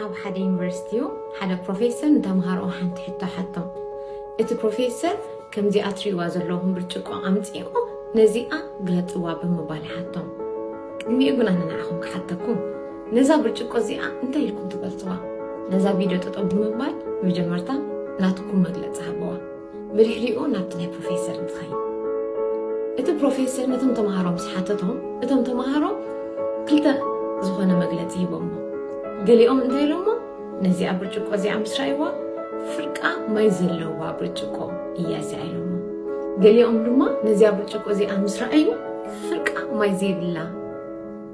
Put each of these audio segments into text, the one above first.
ኣብ ሓደ ዩኒቨርሲቲ ሓደ ፕሮፌሰር ንተምሃሮኡ ሓንቲ ሕቶ ሓቶም። እቲ ፕሮፌሰር ከምዚኣ ትርእይዋ ዘለኹም ብርጭቆ ኣምጺእኩም ነዚኣ ግለጽዋ ብምባል ሓቶም። ቅድሚኡ ግን ኣነ ንዓኹም ክሓተኩም፣ ነዛ ብርጭቆ እዚኣ እንታይ ኢልኩም ትገልጽዋ? ነዛ ቪድዮ ጠጠው ብምባል መጀመርታ ናትኩም መግለጺ ሃብዋ። ብድሕሪኡ ናብቲ ናይ ፕሮፌሰር ንትኸይድ እቲ ፕሮፌሰር ነቶም ተምሃሮ ምስ ሓተቶም እቶም ተምሃሮ ክልተ ዝኾነ መግለፂ ሂቦሞ ገሊኦም እንታይ ኢሎሞ ነዚኣ ብርጭቆ እዚኣ ምስ ረኣይዋ ፍርቃ ማይ ዘለዋ ብርጭቆ እያ እዚኣ ኢሎሞ ገሊኦም ድማ ነዚኣ ብርጭቆ እዚኣ ምስ ረኣዩ ፍርቃ ማይ ዘይብላ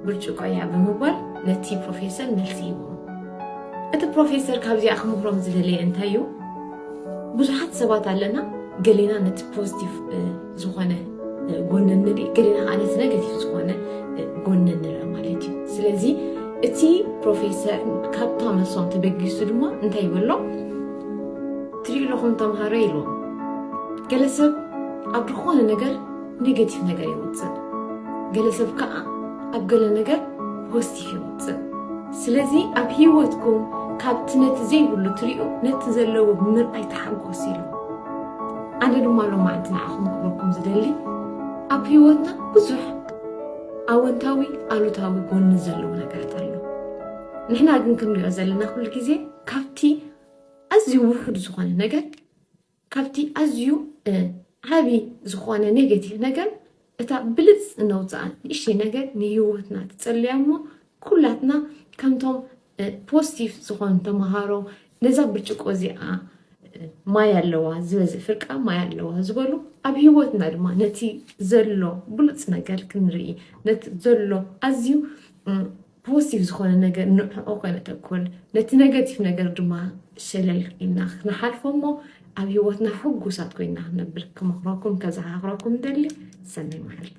ብርጭቆ እያ ብምባል ነቲ ፕሮፌሰር መልሲ ሂቦም እቲ ፕሮፌሰር ካብዚኣ ክምህሮም ዝደለየ እንታይ እዩ ብዙሓት ሰባት ኣለና ገሌና ነቲ ፖዚቲቭ ዝኾነ ጎኒ ንርኢ ገሌና ከዓ ነቲ ነገቲቭ ዝኾነ ጎኒ ንርኢ ማለት እዩ ስለዚ እቲ ፕሮፌሰር ካብታ መሶም ተበጊሱ ድማ እንታይ ይበሎ ትሪኡ ኣለኹም ተምሃሮ ኢልዎም ገለ ሰብ ኣብ ዝኾነ ነገር ኔጌቲቭ ነገር ይወፅእ ገለ ሰብ ከዓ ኣብ ገለ ነገር ፖዚቲቭ የውጽእ። ስለዚ ኣብ ህይወትኩም ካብቲ ነቲ ዘይብሉ ትሪኡ ነቲ ዘለዎ ብምርኣይ ተሓጎሱ ኢሉ። ኣነ ድማ ሎማዕንቲ ንዓኹም ክብለኩም ዝደሊ ኣብ ህይወትና ብዙሕ ኣወንታዊ ኣሉታዊ ጎኒ ዘለዎ ነገራት ኣሎ። ንሕና ግን ክንሪኦ ዘለና ኩሉ ግዜ ካብቲ ኣዝዩ ውሑድ ዝኾነ ነገር ካብቲ ኣዝዩ ዓቢ ዝኾነ ኔጌቲቭ ነገር እታ ብልጽ እነውጽኣ ንእሽተይ ነገር ንህይወትና ትጽልያ እሞ ኩላትና ከምቶም ፖስቲቭ ዝኾኑ ተምሃሮ ነዛ ብርጭቆ እዚኣ ማይ ኣለዋ ዝበዝ ፍርቃ ማይ ኣለዋ ዝበሉ ኣብ ህይወትና ድማ ነቲ ዘሎ ብሉጽ ነገር ክንርኢ ነቲ ዘሎ ኣዝዩ ፖሲቲቭ ዝኾነ ነገር ንዕኦ ከነተኩር ነቲ ነገቲቭ ነገር ድማ ሸለል ኢልና ክንሓልፎ እሞ ኣብ ሂወትና ሕጉሳት ኮይና ክንነብር ክመኽረኩም ከዘኻኽረኩም ደሊ ሰናይ መዓልቲ።